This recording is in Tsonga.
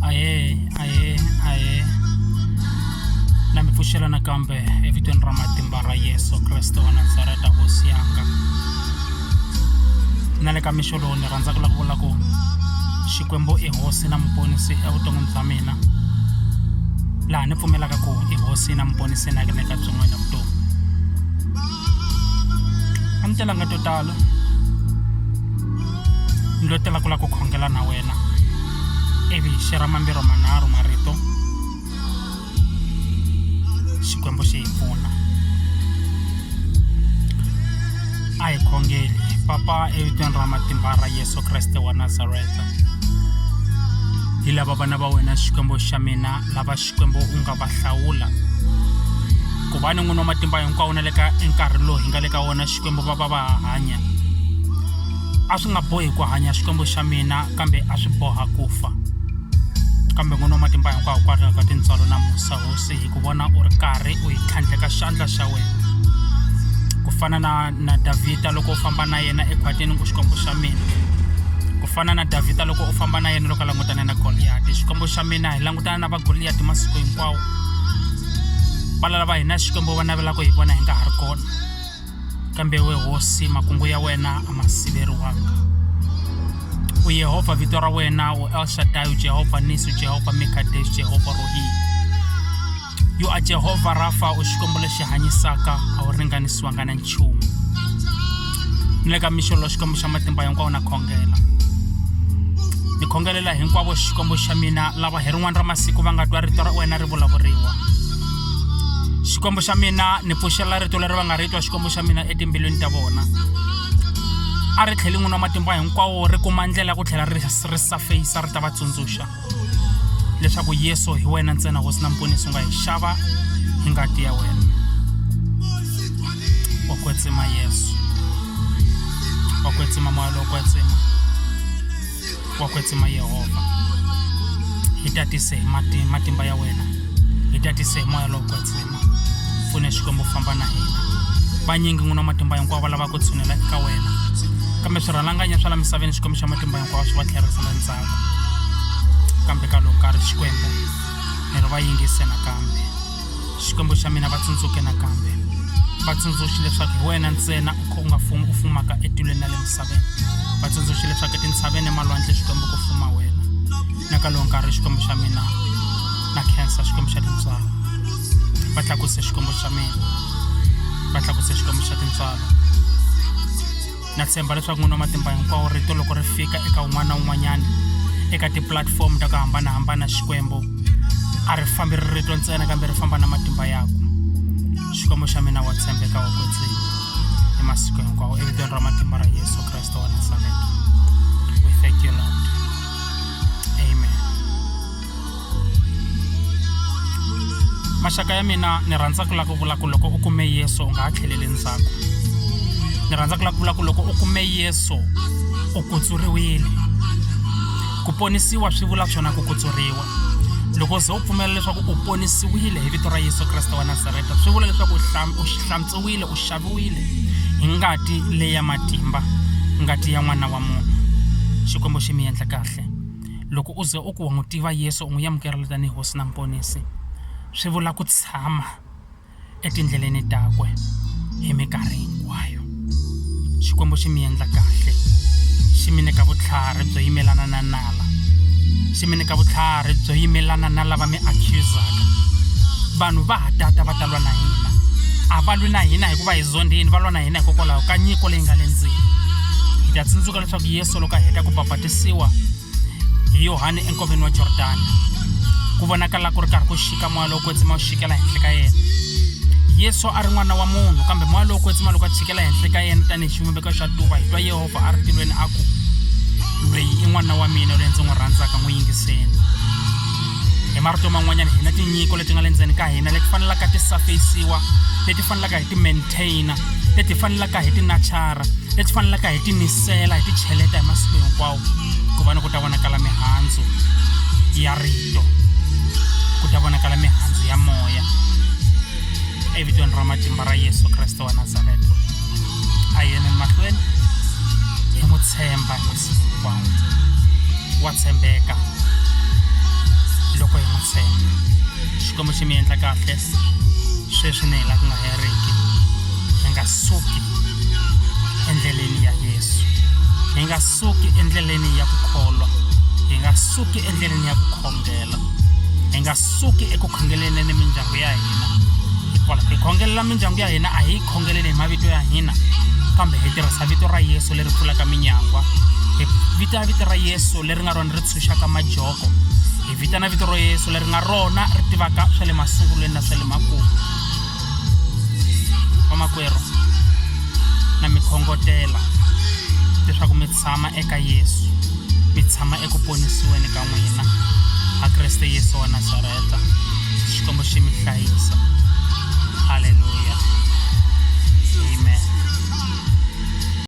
aye aye aye na mi pfuxela nakambe evitweni ra matimba ra yesu kreste wa nazareta hosi yanga na le ka mixo lowu ni rhandza ku la ku vula ku xikwembu i hosi na muponisi evuton'wini bya mina laha ni pfumelaka ku i hosi na muponisi na ke le ka byin'wana vutomi a ni telanga to tala ni lo tela ku la ku khongela na wena ivi xi ra mambirhi manharhu marito xikwembu xi hi pfuna a hi khongeli papa evitweni ra matimba ra yesu kreste wa nazareta hi lava vana va wena xikwembu xa mina lava xikwembu u nga va hlawula ku va ni n'wini wa matimba hinkwawo na le ka nkarhi lowu hi nga le ka wona xikwembu va va va ha hanya a swi nga bohi ku hanya xikwembu xa mina kambe a swi boha ku fa kambe n'wini wa matimba hinkwawo kwalaho ka tintswalo na musa hosi hi ku vona u ri karhi u hi tlhandleka xandla xa wena ku fana na na davhida loko u famba na yena ekhwatini ku xikwembu xa mina ku fana na davhida loko u famba na yena loko a langutane na goliyati xikwembu xa mina hi langu tana va goliyati masiku hinkwawo va lalava hina xikwembu va navela ku hi vona hi nga ha ri kona kambe we hosi makungu ya wena a ma siveriwanga u yehovha vito ra wena u elshadai u jehovha nisi u jehovha mikadesh jehovha rohi yo a jehovha rafa u xikwembu lexi hanyisaka a wu ringanisiwanga na nchumu ni le ka mixolo xikwembu xa matimba hinkwawo na khongela ni khongelela hinkwavo xikwembu xa mina lava hi rin'wana ra masiku va nga twa rito ra wena ri vulavuriwa xikwembu xa mina ni pfuxela rito leri va nga ri twa xikwembu xa mina etimbilwini ta vona a ri tlheli n'wini wa matimba hinkwawo ri kuma ndlela ya ku tlhela ri ri safeyisa ri ta va tsundzuxa leswaku yesu hi wena ntsena hosi na mponisi u nga hi xava hi ngati ya wena wa kwetsima yesu wa kwetsima moya lowo kwetsima wa kwetsima yehovha hi tatise hi mati- matimba ya wena hi tatise hi moya lowo kwetsima pfune xikwembu famba na hina vanyingi n'wina matimba hinkwawo va lava ku tshunela eka wena kambe swirhalanganya swa la misaveni xikwembu xa matimba hinkwawo swi va tlherisela ndzhaku kambe ka loko ka ri xikwembu ni ri va yingise nakambe xikwembu xa mina va tsundzuke nakambe va tsundzuxi leswaku hi wena ntsena u kha u nga fumi u fumaka etilweni na le misaveni va tsundzuxi leswaku etintshaveni emalwandle xikwembu ku fuma wena na ka lowu nkarhi xikwembu xa mina na khensa xikwembu xa tintswalo va tlakuse xikwembu xa mina va tlakuse xikwembu xa tintswalo na tshemba leswaku n'wini wa matimba hinkwawo rito loko ri fika eka un'wana na un'wanyana eka tipulatifomo ta ku hambanahambana xikwembu a ri fambi ri rito ntsena kambe ri famba na matimba yakwe xikwembu xa mina wa tshembeka wa kwetsini hi masiku hinkwawo evitweni ra matimba ra yesu kreste wa nasareta we thank you lord maxaka ya mina ni rhandza ku lava ku vula ku loko u kume yesu u nga ha tlheleli ndzhaku ni rhandza ku lava ku vula ku loko u kume yesu u kutsuriwile ku ponisiwa swi vula swona ku kutsuriwa loko se u pfumela leswaku u ponisiwile hi vito ra yesu kreste wa nasareta swi vula leswaku u hlantswiwile u xaviwile hi ngati leya matimba ngati ya n'wana wa munhu xikwembu xi mi endla kahle Loko u ze u ku wa n'wi tiva Yesu u n'wi amukerile tanihi Hosi na Muponisi, swi vula ku tshama etindleleni takwe hi mikarhi hinkwayo. Xikwembu xi mi endla kahle, xi mi nyika vutlhari byo yimelana na nala, xi mi nyika vutlhari byo yimelana na lava mi accuse-aka. Vanhu va ha tata va ta lwa na hina, a va lwi na hina hikuva hi zondhile, va lwa na hina hikokwalaho ka nyiko leyi nga le ndzeni. Hi ta tsundzuka. leswaku yesu loko a heta ku babatisiwa hi yohane enkoveni wa jordani ku vonakala ku ri karhi ku xika moya lowo kwetsima wu xikela henhla ka yena yesu a ri n'wana wa munhu kambe moya lowo kwetsima loko a tshikela henhla ka yena tanihi xivumbeko xa tuva hi twa yehovha a ri tilweni a ku loyi i n'wana wa mina loyi ndzi n'wi rhandzaka n'wi yingiseni hi marito man'wanyana hina tinyiko leti nga le ndzeni ka hina leti fanelaka ti safeyisiwa leti fanelaka hi ti container leti fanelaka hi tinachara leti fanelaka hi timisela hi ticheleta hi masiku hinkwawo ku va ni ku ta vonakala mihandzu ya rito ku ta vonakala mihandzu ya moya evitweni ra matimba ra yesu kreste wa nazareta a yena ni mahlweni hi n'wi tshemba hinkwawo wa tshembeka loko hi n'wi tshemba xikwembu xi mi endla kahle sweswi ni hi la ku nga heriki hi nga suki endleleni ya yesu hi nga suki endleleni ya ku kholwa hi nga suki endleleni ya ku khongela hi nga suki eku khongeleni ni mindyangu ya hina hikwalaho hi khongelela mindyangu ya hina a hi khongeleni hi mavito ya hina kambe hi tirhisa vito ra yesu leri pfulaka minyangwa hi vita vito ra yesu leri nga rona ri tshunxaka majoko hi vitana vito ro yesu leri nga rona ri tivaka swa le masungulweni na swa le makumu vamakwerhu na mi khongotela leswaku mi tshama eka yesu mi tshama eku ponisiweni ka n'wina a kreste yesu wa nazareta xikwembu xi mi hlayisa halleluya